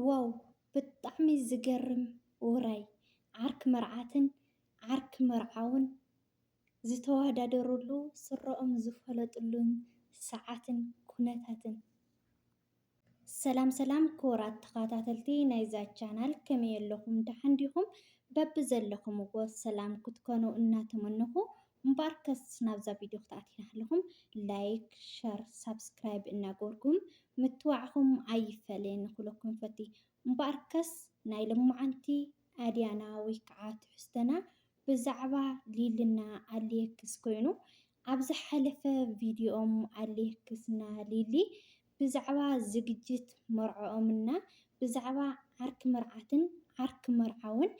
ዋው ብጣዕሚ ዝገርም ውራይ ዓርኪ መርዓትን ዓርኪ መርዓውን ዝተዋዳደርሉ ስረኦም ዝፈለጥሉን ሰዓትን ኩነታትን። ሰላም ሰላም ክቡራት ተኻታተልቲ ናይዛ ቻናል ከመይ ኣለኹም ደሓን ዲኹም በብዘለኹምዎ ሰላም ክትኮኑ እናተመነኹ እምበኣርከስ ናብዛ ቪድዮ ክትኣትዩ እናሃለኹም ላይክ፣ ሸር፣ ሳብስክራይብ እናገበርኩም ምትባዕኹም ኣይፈለየኒ ክብለኩም ይፈቲ። እምበኣርከስ ናይ ሎማዓንቲ ኣድያና ወይ ከዓ ትሕዝቶና ብዛዕባ ሊልና ኣሌክስ ኮይኑ ኣብ ዝሓለፈ ቪድዮኦም ኣሌክስና ሊሊ ብዛዕባ ዝግጅት መርዕኦምና ብዛዕባ ዓርኪ መርዓትን ዓርኪ መርዓውን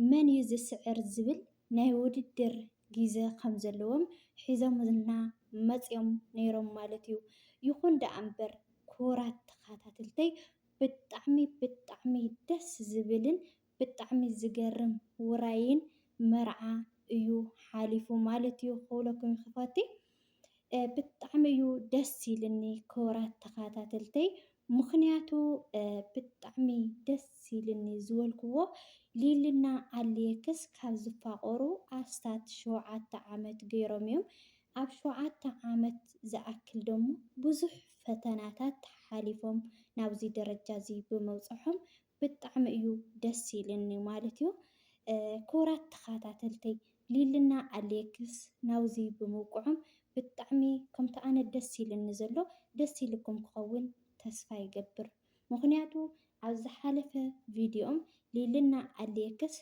መን እዩ ዝስዕር ዝብል ናይ ውድድር ጊዘ ከም ዘለዎም ሒዞምልና መጺኦም ነይሮም ማለት እዩ። ይኹን ደኣ እምበር ክቡራት ተኻታትልተይ ብጣዕሚ ብጣዕሚ ደስ ዝብልን ብጣዕሚ ዝገርም ውራይን መርዓ እዩ ሓሊፉ ማለት እዩ ክብለኩም ይፈቲ። ብጣዕሚ እዩ ደስ ኢልኒ ክቡራት ተኸታተልተይ ምኽንያቱ ብጣዕሚ ደስ ኢልኒ ዝበልክዎ ሊልና ኣልየክስ ካብ ዝፋቐሩ ኣስታት ሸውዓተ ዓመት ገይሮም እዮም። ኣብ ሸውዓተ ዓመት ዝኣክል ደሞ ብዙሕ ፈተናታት ሓሊፎም ናብዚ ደረጃ እዚ ብምብፅሖም ብጣዕሚ እዩ ደስ ኢልኒ ማለት እዩ ክቡራት ተኻታተልተይ ሊልና ኣሌክስ ናብዚ ብምብቅዖም ብጣዕሚ ከምቲ ኣነ ደስ ኢልኒ ዘሎ ደስ ኢልኩም ክኸውን ተስፋ ይገብር ምኽንያቱ ኣብ ዝሓለፈ ቪድዮም ሊልና ኣሌክስ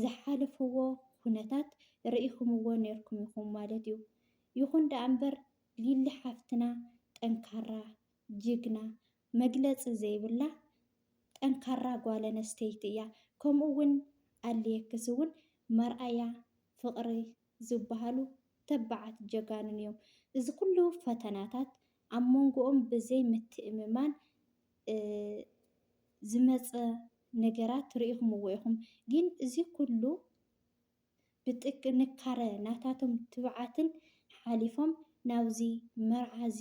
ዝሓለፍዎ ኩነታት ርኢኽምዎ ኔርኩም ኢኹም ማለት እዩ ይኹን ደኣ እምበር ሊሊ ሓፍትና ጠንካራ ጅግና መግለፂ ዘይብላ ጠንካራ ጓለነስተይቲ እያ ከምኡ እውን ኣልየክስ እውን መርኣያ ፍቅሪ ዝባሃሉ ተባዓት ጀጋኑን እዮም እዚ ኩሉ ፈተናታት ኣብ መንጎኦም ብዘይ ምትእምማን ዝመፀ ነገራት ሪኢኹምዎ ኢኹም ግን እዚ ኩሉ ብጥንካረ ናታቶም ትብዓትን ሓሊፎም ናብዚ መርዓ እዚ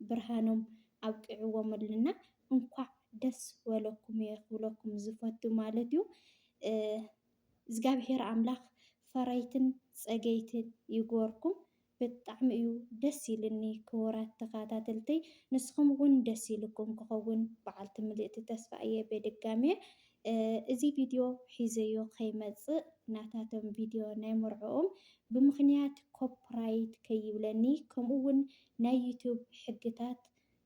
ብርሃኖም ኣብቂዕዎምልና እንኳዕ ደስ ወለኩም እየ ክብለኩም ዝፈቱ ማለት እዩ እዝጋብሄር ኣምላክ ፈረይትን ፀገይትን ይግበርኩም ብጣዕሚ እዩ ደስ ኢልኒ ክቡራት ተካታተልተይ ንስኩም እውን ደስ ኢልኩም ክከውን በዓልቲ ምልእቲ ተስፋ እየ ቤድጋሜ እዚ ቪድዮ ሒዘዮ ከይመፅእ ናታቶም ቪድዮ ናይ መርዕኦም ብምክንያት ኮፕራይት ከይብለኒ ከምኡ እውን ናይ ዩቱብ ሕግታት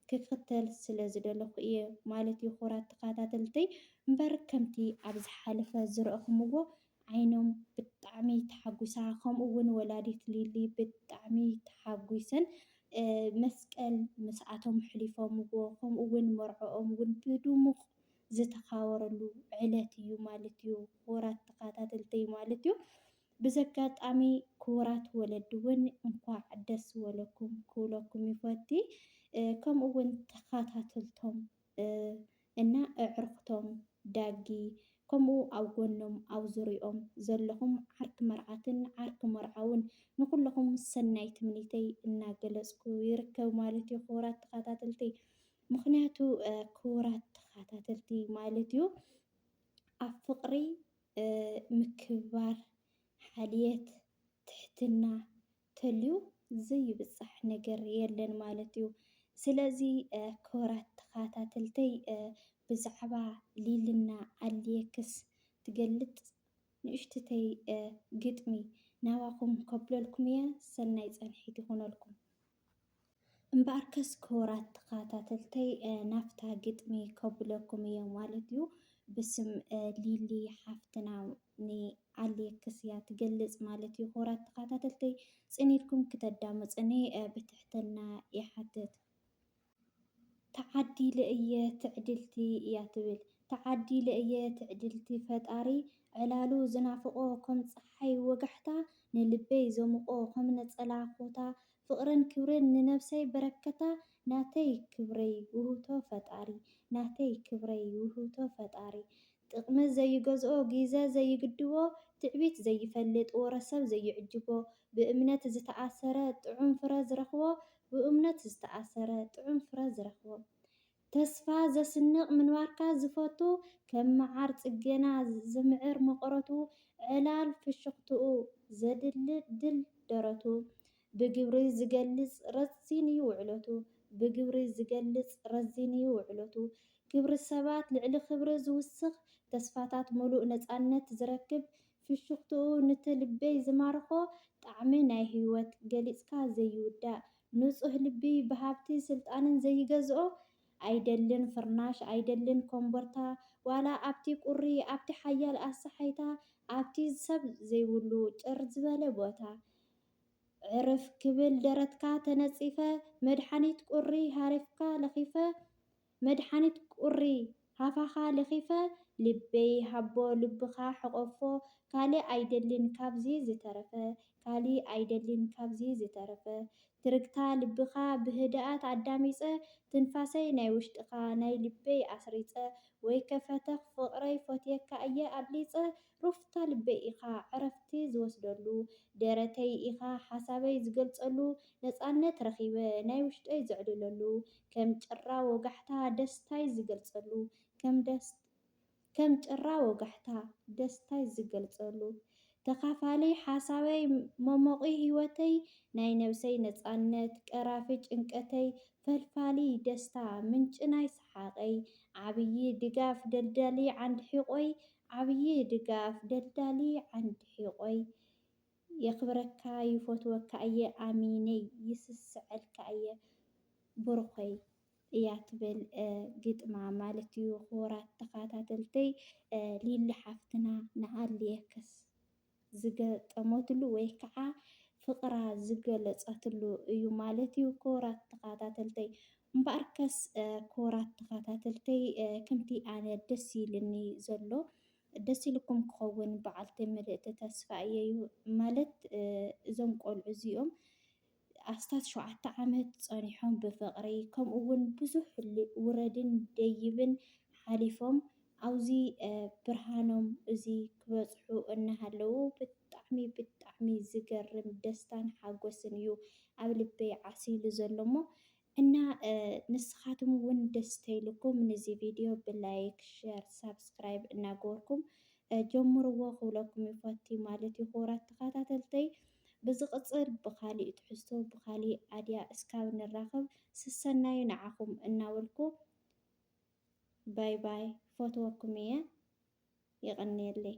ክክተል ስለ ዝደለኩ እየ ማለት እዩ ኩራት ተካታተልተይ እምበር ከምቲ ኣብ ዝሓለፈ ዝረእኩምዎ ዓይኖም ብጣዕሚ ተሓጉሳ ከምኡ ውን ወላዲት ሊሊ ብጣዕሚ ተሓጉሰን መስቀል ምስኣቶም ኣሕሊፎምዎ ከምኡ ውን መርዕኦም ውን ብዱሙቅ ዝተካበረሉ ዕለት እዩ ማለት እዩ ኩራት ተካታተልተይ ማለት እዩ ብዘጋጣሚ ክቡራት ወለዲ ውን እንኳዕ ደስ ወለኩም ክብለኩም ይፈቲ ከምኡ ውን ተካታተልቶም እና እዕርክቶም ዳጊ ከምኡ ኣብ ጎኖም ኣብ ዙርይኦም ዘለኹም ዓርኪ መርዓትን ዓርኪ መርዓውን ንኩለኹም ሰናይ ትምኒተይ እናገለፅኩ ይርከብ ማለት ዩ ክቡራት ተካታተልቲ ምክንያቱ ክቡራት ተካታተልቲ ማለት ዩ ኣብ ፍቅሪ ምክብባር፣ ሓልየት፣ ትሕትና ተልዩ ዘይብጻሕ ነገር የለን ማለት እዩ። ስለዚ ክብራት ተኻታተልተይ ብዛዕባ ሊልና ኣልየክስ ትገልጽ ንእሽትተይ ግጥሚ ናባኹም ከብለልኩም እየ ሰናይ ጸንሒት ይኹነልኩም። እምበኣርከስ ክቡራት ተኸታተልተይ ናብታ ግጥሚ ከብለኩም እየ ማለት እዩ። ብስም ሊሊ ሓፍትና ንኣሌክስ እያ ትገልፅ ማለት እዩ። ክቡራት ተኸታተልተይ ፅን ኢልኩም ክተዳምፁኒ ብትሕትና ይሓትት። ተዓዲለ እየ ትዕድልቲ እያ ትብል። ተዓዲለ እየ ትዕድልቲ ፈጣሪ ዕላሉ ዝናፍቆ ከም ጸሓይ ወጋሕታ ንልበይ ዘሙቆ ከም ነጸላ ኮታ ፍቅርን ክብርን ንነብሰይ በረከታ ናተይ ክብረይ ውህብቶ ፈጣሪ ናተይ ክብረይ ውህብቶ ፈጣሪ ጥቅሚ ዘይገዝኦ ጊዘ ዘይግድቦ ትዕቢት ዘይፈልጥ ወረ ሰብ ዘይዕጅቦ ብእምነት ዝተኣሰረ ጥዑም ፍረ ዝረኽቦ ብእምነት ዝተኣሰረ ጥዑም ፍረ ዝረኽቦ ተስፋ ዘስንቅ ምንባርካ ዝፈቱ ከም መዓር ጽጌና ዝምዕር መቀረቱ ዕላል ፍሽኽትኡ ዘድልድል ደረቱ ብግብሪ ዚገልጽ ረዚን'ዩ ውዕለቱ። ብግብሪ ዚገልጽ ረዚን'ዩ ውዕለቱ። ክብሪ ሰባት ልዕሊ ክብሪ ዚውስኽ፣ ተስፋታት ምሉእ ነጻነት ዚረክብ፣ ፍሽኽትኡ ኑቲ ልበይ ዚማርኾ ጣዕሚ ናይ ህይወት፣ ገሊጽካ ዘይውዳእ፣ ንጹህ ልቢ ብሃብቲ ስልጣንን ዘይገዝኦ፣ ኣይደልን ፍርናሽ፣ ኣይደልን ኮምቦርታ፣ ዋላ ኣብቲ ቁሪ፣ ኣብቲ ሓያል ኣሰሓይታ፣ ኣብቲ ሰብ ዘይብሉ ጭር ዝበለ ቦታ፣ ዕርፍ ክብል ደረትካ ተነጺፈ መድሓኒት ቁሪ ሃሪፍካ ለኺፈ መድሓኒት ቁሪ ሃፋኻ ለኺፈ ልበይ ሃቦ ልብኻ ሕቆፎ ካሊእ ኣይደልን ካብዚ ዝተረፈ ካሊእ ኣይደልን ካብዚ ዝተረፈ ትርግታ ልብኻ ብህድኣት ኣዳሚጸ ትንፋሰይ ናይ ውሽጥኻ ናይ ልበይ ኣስሪጸ ወይከ ፈተኽ ፍቅረይ ፎትየካ እየ ኣብሊጸ ሩፍታ ልበይ ኢኻ ዕረፍቲ ዝወስደሉ፣ ደረተይ ኢኻ ሓሳበይ ዝገልጸሉ፣ ነጻነት ረኺበ ናይ ውሽጠይ ዘዕልለሉ፣ ከም ጭራ ወጋሕታ ደስታይ ዝገልጸሉ፣ ከም ጭራ ወጋሕታ ደስታይ ዝገልጸሉ፣ ተኻፋሊ ሓሳበይ መሞቒ ህይወተይ፣ ናይ ነብሰይ ነጻነት ቀራፊ ጭንቀተይ፣ ፈልፋሊ ደስታ ምንጪ ናይ ሰሓቐይ፣ ዓብዪ ድጋፍ ደልዳሊ ዓንዲ ሒቖይ፣ ዓብዪ ድጋፍ ደልዳሊ ዓንዲ ሒቆይ። የኽብረካ ይፎትወካ እየ ኣሚነይ ይስስዐልካ እየ ቡሩኸይ እያ ትብል ግጥማ ማለት እዩ ክቡራት ተኻታተልተይ ሊሊ ሓፍትና ንኣልየክስ። ዝገጠመትሉ ወይ ከዓ ፍቅራ ዝገለፀትሉ እዩ ማለት እዩ ክቡራት ተኻታተልተይ እምበኣር ከስ ክቡራት ተኻታተልተይ ከምቲ ኣነ ደስ ኢልኒ ዘሎ ደስ ኢልኩም ክኸውን በዓልቲ ምልእቲ ተስፋ እየዩ ማለት እዞም ቆልዑ እዚኦም ኣስታት ሸውዓተ ዓመት ጸኒሖም ብፍቕሪ ከምኡ ውን ብዙሕ ውረድን ደይብን ሓሊፎም ኣውዚ ብርሃኖም እዚ ክበጽሑ እናሃለዉ ብጣዕሚ ብጣዕሚ ዝገርም ደስታን ሓጎስን እዩ ኣብ ልበይ ዓሲሉ ዘሎ'ሞ እና ንስካትም እውን ደስ ተይሉኩም ንዚ ቪድዮ ብ ላይክ ሸር ሳብስክራይብ እና ገበርኩም ጀምርዎ ክብለኩም ይፎቲ ማለት እዩ ክቡራት ተካታተልተይ ብዝቅፅል ብካሊእ ትሕዝቶ ብካሊእ ኣድያ እስካብ ንራከብ ስሰናዩ ንዓኩም እናበልኩ ባይ ባይ ክፈትወኩም እየ የቀንየለይ።